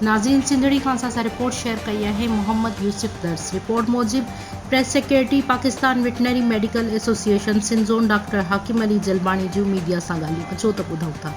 ناظرين سنڌڙي خان سان اسان رپورٽ شيئر ڪئي آهي محمد يوسف درس رپورٽ موجب press secretary Pakistan veterinary medical association Sindh zone doctor Hakim Ali Jalbani جون ميڊيا سان ڳالهيون اچو ته ٻڌون ٿا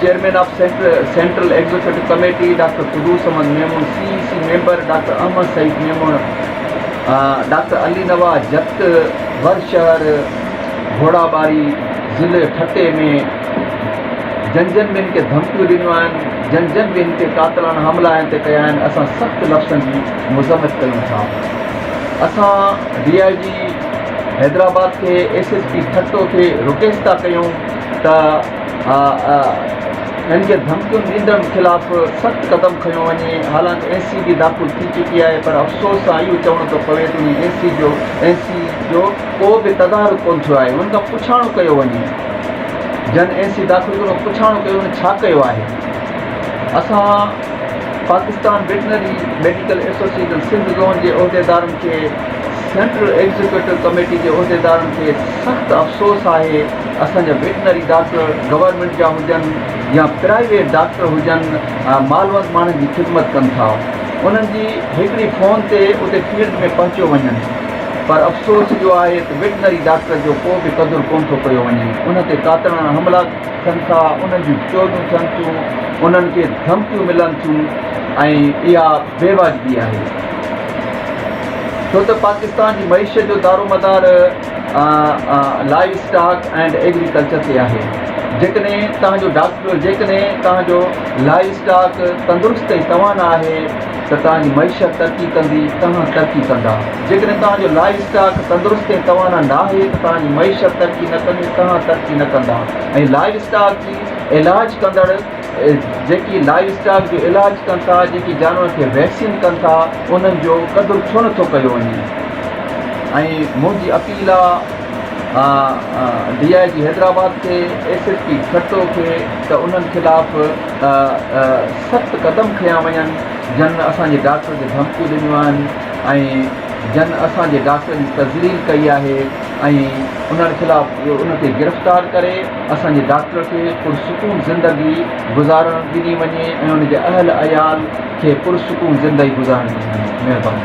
chairman of central executive committee doctor Qudoos Ahmed Memon, C E C member doctor Ahmed Saeed Memon, doctor Ali Nawaz Jatt, ور شهر گهوڙاٻاري ضلعي ٺٽي ۾ جن جن به هن کي ڌمڪيون ڏنيون آهن، جن جن به هن تي قاتلاڻا حملا هن تي ڪيا آهن اسان سخت لفظن جي مذمت ڪيون ٿا. اسان ڊي آء جي حيدرآباد کي ايس ايس پي ٺٽو کي رڪيست ٿا ڪيون ته. آء اين کي ڌمڪيون ڏيندڙن خلاف سخت قدم کنيو وڃي، حالانڪ اين سي بي داخل ٿي چڪي آهي پر افسوس سان اهو چوڻو ٿو پوي ته اين سي جو اين سي جو ڪو به تدارڪ ڪونه ٿيو آهي انهن کان پڇاڻو ڪيو وڃي جن اين سي داخل ڪيو پڇاڻو ڪيو وڃي ڇا ڪيو آهي اسان Pakistan veterinary medical association Sindh zone جي عهديدارن کي سينٽرل ايگزيڪيوٽو ڪميٽي جي عهديدارن کي سخت افسوس آهي اسان جا ويٽنري ڊاڪٽر گورنمينٽ جا هجن يا پرائيويٽ ڊاڪٽر هجن مالوند ماڻهن جي خدمت ڪن ٿا انهن جي هڪڙي فون تي اتي فيلڊ ۾ پهچيو وڃن پر افسوس اهو آهي ته ويٽنري ڊاڪٽر جو ڪو به قدر ڪونه ٿو ڪيو وڃي انهن تي ڪاتڻا حملا ٿين ٿا انهن جون چوريون ٿين ٿيون انهن کي ڌمڪيون ملن ٿيون ۽ اها بيواجبي آهي ڇو ته پاڪستان جي معيشت جو دارومدار لائيو اسٽاڪ اينڊ ايگريڪلچر تي آهي جيڪڏهن توهان جو ڊاڪٽر جيڪڏهن توهان جو لائيو اسٽاڪ تندرست ۽ توانا آهي ته توهان جي معيشت ترقي ڪندي توهان ترقي ڪندا جيڪڏهن توهان جو لائيو اسٽاڪ تندرست ۽ توانا ناهي ته توهان جي معيشت ترقي نه ڪندي توهان ترقي نه ڪندا ۽ لائيو اسٽاڪ جي علاج ڪندڙ جيڪي لائيو اسٽاڪ جو علاج ڪن ٿا، جيڪي جانورن کي ويڪسين ڪن ٿا انهن جو قدر ڇو نه ٿو ڪيو وڃي ۽ منهنجي اپيل آ ڊي آء جي حيدرآباد کي ايس ايس پي ٺٽو کي ته انهن خلاف سخت قدم کنيا وڃن جنھن اسان جي ڊاڪٽر کي ڌمڪيون ڏنيون آھن ۽ جنھن اسان جي ڊاڪٽر جي تذليل ڪئي آھي ۽ انهن خلاف ان کي گرفتار ڪري اسان جي ڊاڪٽر کي پرسڪون زندگي گذارڻ ڏني وڃي ۽ ان جي اهل عيال کي پرسڪون زندگي گذارڻ ڏني وڃي مهرباني